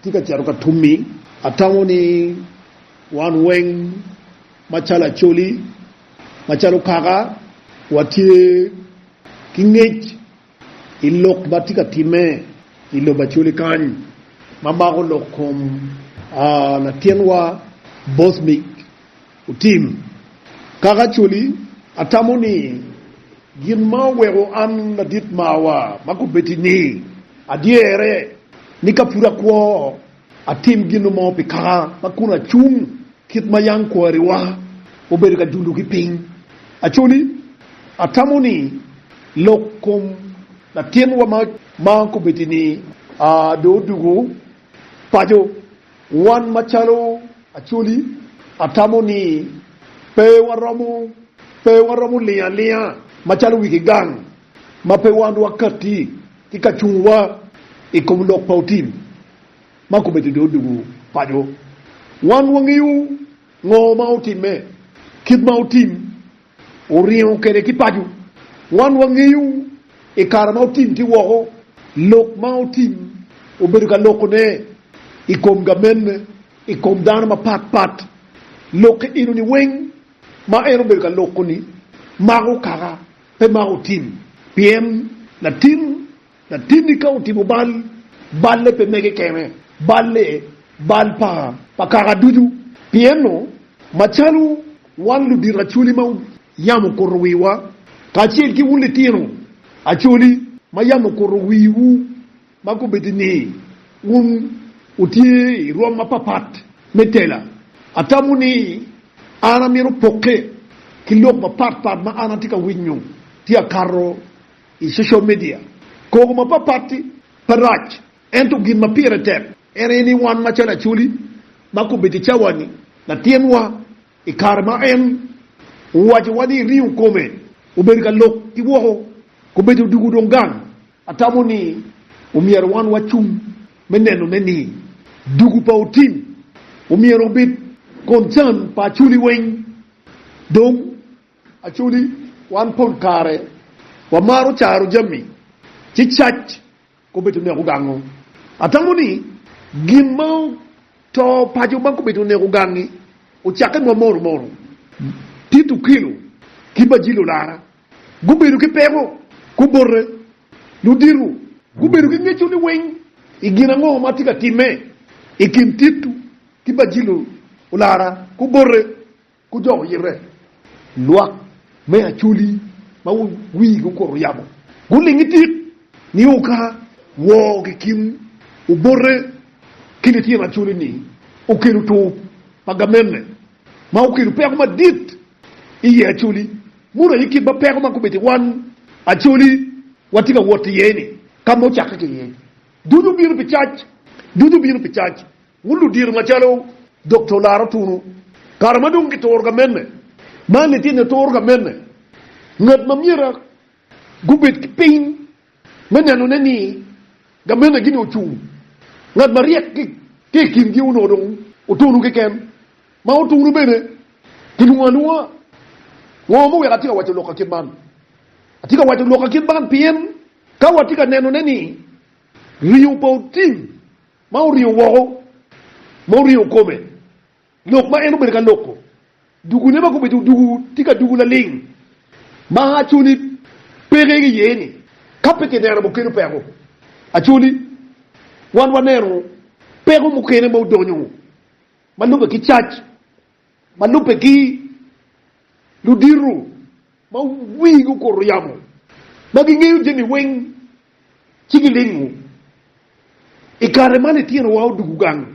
Atye ka cito ka tummi. Atamo ni wan weng macalo Acholi, macalo kaka, watye ki ngec i lok ma tye ka timme i lobo Acholi kany ma mako lok kom latinwa Bosmic. Otim. Kaka Acholi, atamo ni gin ma oweko an ladit marwa ma kobeddi ni adyere ni ka pud akwo atim gin mo pi kaka ma kun acung kit ma yam kwariwa obedo ka julo ki piny. Acholi, atamo ni lok kom latinwa ma kobeddi ni dong odwogo paco. Wan macalo Acholi, atamo ni pe waromo pe waromo lingo alinga macalo wigi gang ma pe wan wakatti ki ka cungwa i kom lok pa otim ma kome dede odwogo paco. Wan wangeyo ngo ma otimme, kit ma otim, oringo kwede ki paco. Wan wangeyo i kare ma otim ki woko, lok ma otim obedo ka lokone i kom gamenne, i kom dano mapat pat. Lokke eno-ni weng ma en obedo ka loko-ni mako kaka pe mako tim, pien latim Latinni ka otimo bal, balle pe mege kene, balle bal pa pa kaka ducu. Pienno, macalo wan ludito acoli ma yam okuto wiwa, kacel ki wun litino acoli ma yam okuto wiwu ma kobedo ni wun wutye i rwom mapapat me tela, atamo ni an amito pokke ki lok mapatpat ma an atye ka winyo tye akato. I social media, koko mapapat-ti pe rac, ento gin ma pire tek en aye ni wan macalo Acholi ma kobedo i cawa-ni, latinwa i kare ma en owacowa ni ringo kome obedo ka lok ki woko, kobedo odwogo dong gang. Atamo ni omyero wan wacung me nenone ni dwogo pa Otim omyero obed concern pa Acholi weng dong. Actually, wan pol kare wamaro caro jami ci cac kobedo oneko gango. Atamo ni gin ma oto paco ma kobedo oneko gangi ocakke ma moro moro. Tit Okelo ki Bajilo Lara gubedo ki peko kubote ludito gubedo ki ngeco niweng i gin ango ma tye ka timme i kin Tit ki Bajilo Lara kubote. ku dok yite. Lwak me acholi ma wigi okuto yamo gulingi tik, nio ka woo ki kin obote ki litino acholi-ni okelo tur pa gamenne ma okelo peko madit i ye acholi, muno aye kit ma peko ma gubedo i wan acholi watye ka wot iye-ni, ka ma ocakke ki iye, ducu bino pi cac, ducu bino pi cac. Wun ludito macalo dok to laro tunu, kare ma dong gituro ka mene, ma litino turo ka mene, ngat ma myero gubed ki piny me nenone ni ka mene gini ocung, ngat maryek ki i kingi onongo dong otunu keken, ma otunu bene kilwongo alwonga. Ngo ma weko atye ka waco lok akit man? Atye ka waco lok akit man pien ka watye ka nenone ni ringo pa otim, ma oriyo woko, ma oriyo kome, lok ma en obedo ka loko, dugune ma gubedo dugu tye ka dugu laling, ma actually peke iye ni ka pe kineno mo kelo peko. Actually wan waneno peko mukene ma odonyo ma lube ki cac. Ma lubbe-gi, ludito ma wigi okuto yamo, ma gingeyo jami weng, ci gilingo. I kare ma litinowa odwogo gang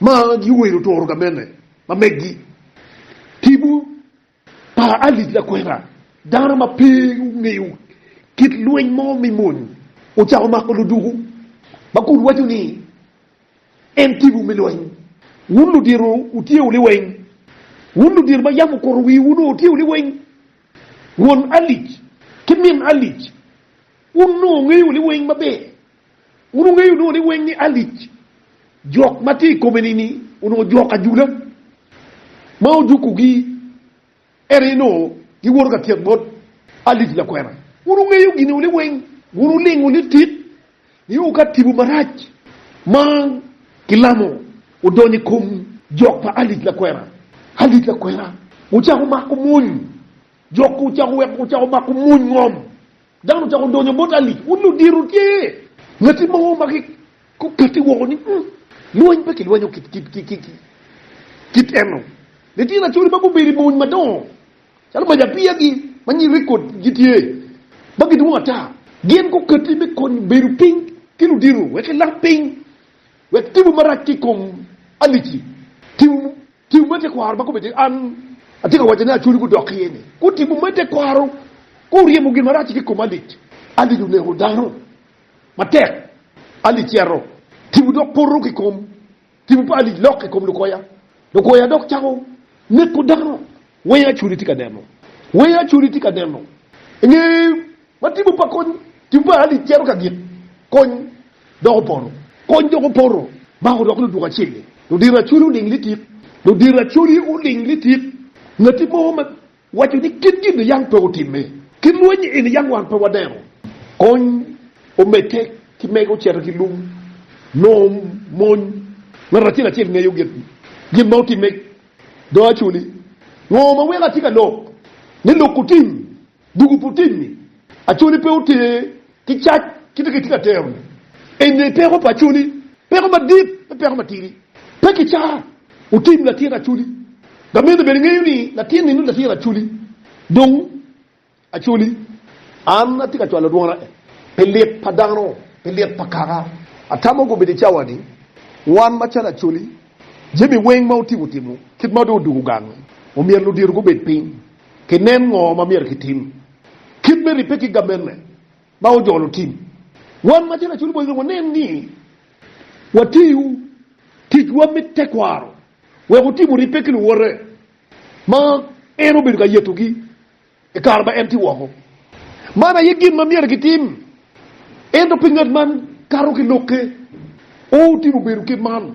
ma giwero toro gamente ma meggi, tipo pa Alice Lakwena, dano ma pe ongeyo kit lweny mo me mony, ocako mako luduku ma kun waco ni, en tibu me lweny. Wun ludito wutyewu liweny, wun ludito ma yam okuto wiwu nongo wutyewu liweny, won alic ki min alic, wun nongo wungeyo liweny maber. Wun wungeyo nongo liweny ni alic jok ma tye i kome-ni-ni onongo jok ajula ma ojukogi. Ento inongo giwoto ka tyeko bot Alic lakwena. Wun wungeyo gin uni weng, wun wulingo litit nio ka tipo marac ma gilamo odonyo i kom jok pa Alic lakwena. Alic lakwena wucako mako mony, jokki wucako weko wucako mako mony ngom. Dano ocako donyo bot Ali, wun ludito tye ngati mo ma gukatti woko ni, Ung, lweny pe kilwenyo kit eno. Litino acoli ma gubedo i mony madongo calo mac apiyagi ma nying rekod gitye ma gidwong ata, gin gukatti me konyo bedo piny ki ludito wek kilam piny wek tipo marac ki i kom Ali-ci. Tipo Tim me tekwaro ma kome tye, An atye ka wacce ni acwali gudok iye ni, gutimo me tekwaro, guryemo gin marac-ci ki i koma. Alic, alic oneko dano matek, alic cito, tipo dok poto ki i kom, tipo pa alic lok ki i kom lukoya, lukoya dok cako neko dano. Wer acwali tye ka neno, wer acwali tye ka neno, inge. Ma tipo pa kony, Tipo pa Alice cito ka gik kony dok opoto. Kony dok opoto, Mako dok luduk acel-li. Ludiro acoli oling litik. Ludiro acoli oling litik. Ngati mo ma waco ni kit gin niyang pe otimme. Kit lweny eni yam wan pe wadeno. Kony omedde ki mege ocito ki lung nongo mony. Ngat acel acel ngeyo gin ma otimme. Do acoli, Ngo ma weko atye ka lok ni lok otim? Dwogo pu tim ni Acholi pe oter ki cac kite ki tira tero ni eni peko pa Acholi, peko madit pe peko matidi. Pe ki ca u tim latin Acholi. Gamene bene ngeyo ni latin ni nongo latin Acholi. Dong Acholi an atye ka cwalo dwona en pi lit pa dano, pi lit pa kaka atamo gubedo i cawa ni. Wan macalo Acholi, jami weng ma otimo otimo kit ma dong odugo gang ni omyero ludito gubed piny. ki nen ngo ma myero ki tim. Kit me ribbe ki gamenne ma ojolo tim. Wan ma tye lacul bwony dong wa nen ni wa tiyu tic wa me tekwaro wek wu timo ribbe ki luwote ma en obedo ka yeto gi i kare ma en tye woko. Man aye gin ma myero ki tim. Ento pingo ngat man kato ki lokke? Oo, timo bedo kit man.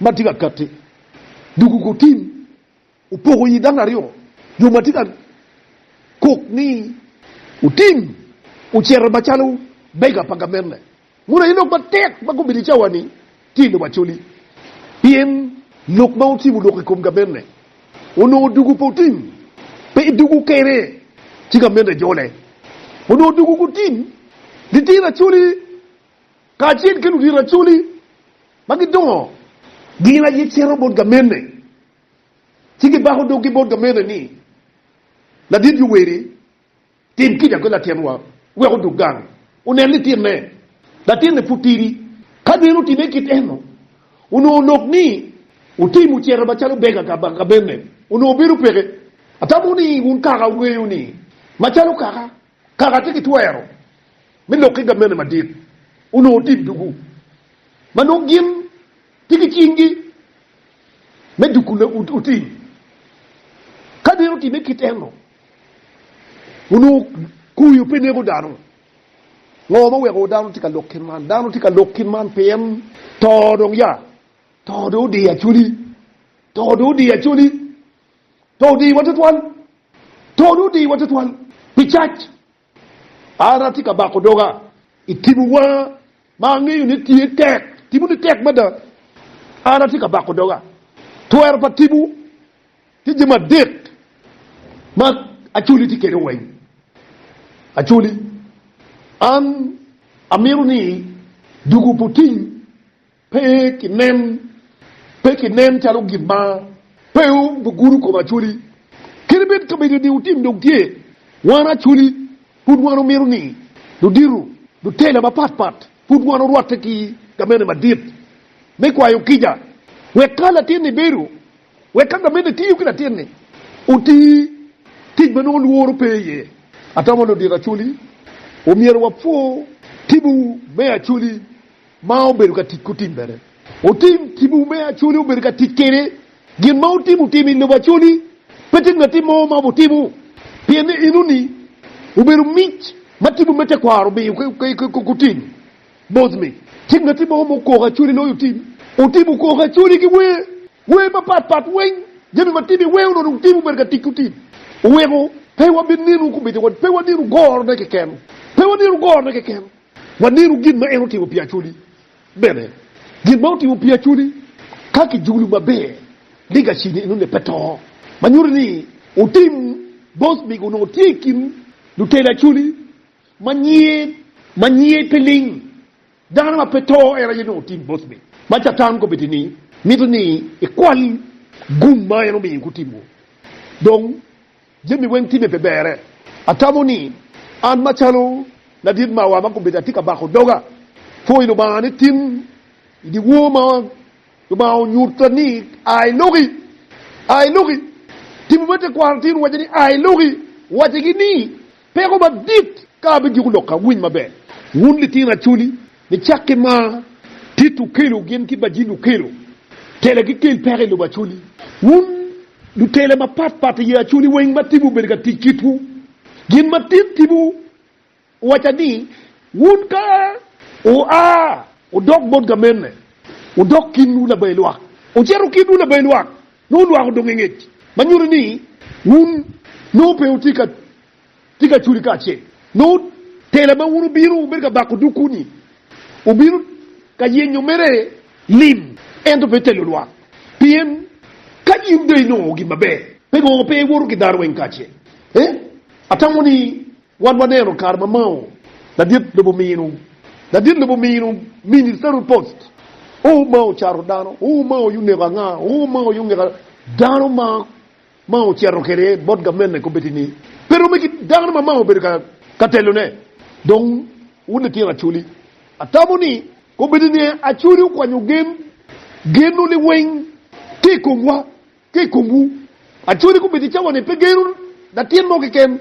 ma tye ka katti doko kor tim opoko i dano aryo jo ma tye ka kok ni otim ocito macalo bega pa gamente mono aye lok matek ma gubedo i cawa ni tye lobo Acholi pien lok ma otimo lok i kom gamente onongo doko kor tim pe doko kene ci gamente jole onongo doko kor tim litino Acholi kacel ki ludito racune ma gidongo, gin aye cito bot gamene ci gibako doggi bot gamene ni, 'Ladit Yoweri, tim kica ki latinwa wek odog gang onen litine. Latinne pud tidi. Ka gin otimme kit eno, onongo lok ni otim ocito macalo bega ka gamene onongo bedo peke. Atamo ni wun kaka wungeyo ni, macalo kaka Kaka tye ki twero me lok ki gavmenti madit onongo tye i dugu ma nongo gin tye ki cinggi me duku otim. Ka nino otimme kit eno, onongo kuyo pe neko dano. Ngo ma oweko dano tye ka lok kit man? Dano tye ka lok kit man pien to dong ya, to dong odiyo Acholi, to dong odiyo Acholi. To odiwa tutwal. To dong odiwa tutwal pi cac. An atye ka bako doga i timo wanga ma angeyo ni tye tek. Timone tek mada. An atye ka bako doga. Twero pa timo tye jami adek ma Acholi tye kede weng. Acholi, an amito ni dugo puting Pe kinen, pe kinen calo gin ma pe gugudo kom Acholi. Kadi bed kabedo ni otim dong tye, wan Acholi pud wan omito ni ludito, lutela mapat pat pud wan orwatte ki gamente madit me kwayo kica wek ka latinni bedo, wek ka gamente tiyo ki latinni oti tic ma nongo lworo pe iye. Atamo ludito Acholi omyero wapwo tibu me Acholi. ma obedo ka tic kutimmere. Wutim timwu me acoli obedo ka tic kene. Gin ma wutimo tim i lobo acoli pe tim latim mo ma wutimo pien enoni obedo mic ma timwu me tekwaro omiyo ki kutim. Bosmi, Tim latim mo ma okoko acoli loyo tim. Wutim okoko acoli ki wer, wer mapat pat weng, jami ma tim iweo nongo tim obedo ka tic kutim. Wuweko pe wabinenu kumica, pe wanenu gorone keken, pe wanenu gorone keken. Wanenu gin ma en otimo pi Acholi bene. Gin ma otimo pi Acholi, Ka kijulu maber ni Gacini i nonne pe to, ma nyuto ni Otim bos mege onongo tye i kin lutela Acholi ma nyiye ma nyiye pe ling. Dano ma pe to en aye nongo Otim bos mege. Ma Catan kobedo ni mito ni ikwal gum ma en omiyo gutimo dong. Jami weng time pe bere. Atamo ni an macalo ladit mawa ma gubedo atye ka bako doga pwoyo Lubanga ni tim i dyewor ma Lubanga onyutta ni a i loki, a i loki. Timowa tekwaro tye rwaco ni a i loki, wacce gi ni. Peko madit ka abijuko lok ka winy maber. Wun litino acholi, nicak ki ma Tito okelo gin ki Bajin okelo, tela gikel peko i lobo acholi. Wun lutela mapat pat i ye acholi weng ma tibu obedo ka tic kitwu. Gin ma tin tibu owaca ni, wun ka wua wudok bot gamenne, wudok kinwu labayi lwak. Wucito kinwu labayi lwak, nongo olwako donge ngec, ma nyuto ni wun nongo pe wutye ka tye ka culi kacel. Nongo tela ma wun wubino wubedo ka bako dukwu-ni wubino ka yenyo mere lim, ento pe telo lwak. Pien ka in dong inongo gin maber, pe gwoko pe iwoto ki dano weng kacel. Ee, atamo ni Wan waneno kare ma Mao ladit lobo minu, ladit lobo minu, mini Saru Post, oo Mao cato dano, oo Mao yuneko anga, oo Mao yungeka dano ma Mao ceto kede bot gavmene kobedi ni pe rome ki dano ma Mao obedo ka telo ne. Dong wun litino Acholi, atamo ni kobedi ni Acholi okwanyo gen, geno liweng ki ikomwa. Ka i komwu, acwali gubedo i cawa ni pe geno latin mo keken,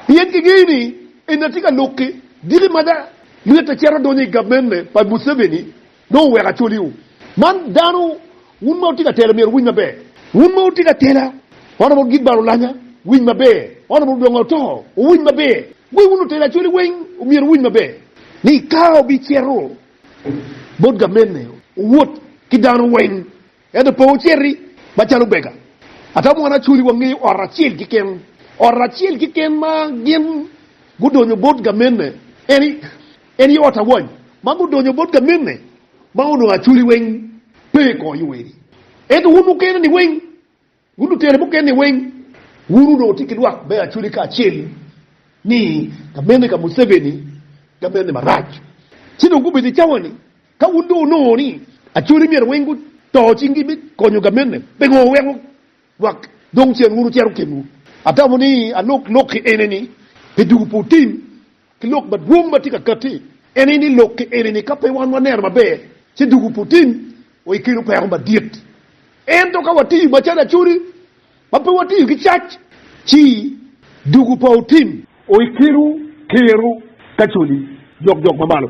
pien kingeyo ni en atye ka lok ki diki ma da ryette cito donyo i gabmene pa Museveni nongo oweko acwaliwu. Man dano wun ma wutye ka tela myero wuwiny maber. Wun ma wutye ka tela wan awobi gin bal olanya winy maber, wan awobi odongo oto wuwiny maber. Wa wun lutela acwali weng myero wuwiny maber ni ka wubicito bot gabmene wuwot ki dano weng. Ento pe wuciti macalo omega. Atamo wun acwal i wang ot acel keken, ot acel keken ma gin gudonyo bot gamenne, en aye ot awany ma gudonyo bot gamenne, ma onongo acwali weng pe i kor yo eni, ento wun mukene-ni weng Wun lutela mukene weng, wun onongo wutye ki lwak me Acholi kacel ni gamenne ka Museveni gamenne marac. Ci dong gubedo i cawa ni ka wun dong wunongo ni Acholi myero weng guto cinggi me konyo gamenne, pingo wuweko lwak dong cen wun wucito kenwu? Atamo ni alok lok-ki ene ni, pe dwogo putin. Ki lok madwong ma tye ka katti en aye ni lokke enini ka pe wan waneno maber ci dugu putin o i kelo peko madit. Ento ka watiyo macalo acodi ma pe watiyo ki cac ci dugu pa otin o i kelo kero ka codi jokjok mamalo.